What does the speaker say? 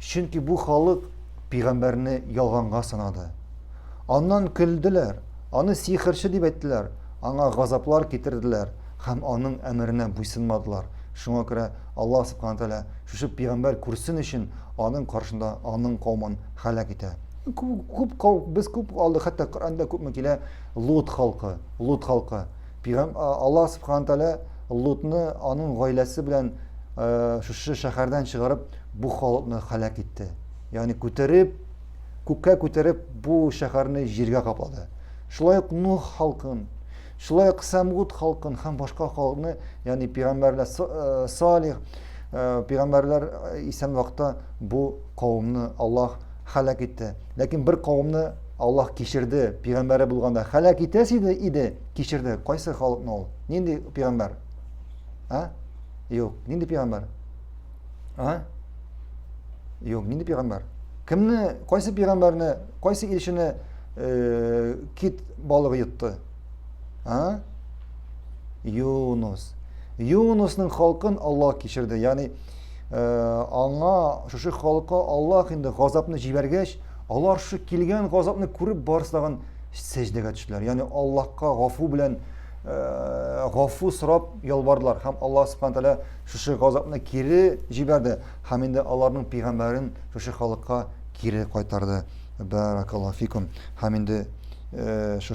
Чөнки бу халык пигамбәрне ялганга санады. Аннан көлделәр, аны сихерче дип әйттеләр, аңа газаплар китерделәр һәм аның әмеренә буйсынмадылар. Шуңа күрә Аллаһ Субхана Тәгалә шушы пигамбәр күрсен өчен аның каршында аның каумын һәлак итә. Күп кау без күп алдык, хәтта Коръәндә күпме килә Лут халкы, Лут халкы. Пигам Аллаһ Субхана Тәгалә Лутны аның гаиләсе белән шушы шәһәрдән чыгарып Бу халыкны һәлак итте. Ягъни күтәреп, күккә күтәреп, бу шәһәрне җиргә каплады. Шулай ук Нух халкын, шулай ук Сәмгут халкын һәм башка халыкны, ягъни пигамбәрләр э, Салих, э, пигамбәрләр э, исән вакытта бу кавымны Аллаһ һәлак итте. Ләкин бер кавымны Аллаһ кичерде, пигамбәре булганда һәлак итәсе иде, иде, кичерде. Кайсы халыкны ул? Нинди пигамбәр? А? Юк, нинди пигамбәр? А? Юк, нинди пигамбар? Кемне, кайсы пигамбарны, кайсы илчене э, кит балыгы йотты? А? Юнус. Юнусның халкын Алла кичерде. Ягъни э, аңа шушы халыкка Аллаһ инде газапны җибәргәч, алар шушы килгән газапны күреп барысы тагын сәҗдәгә төштеләр. Ягъни Аллаһка гафу белән э, гафу сорап ялвардылар һәм Аллаһ субхана тәгалә шушы газапны кире җибәрде һәм инде аларның пигамбәрен шушы халыкка кире кайтарды. Бәракаллаһу фикум. Һәм инде шушы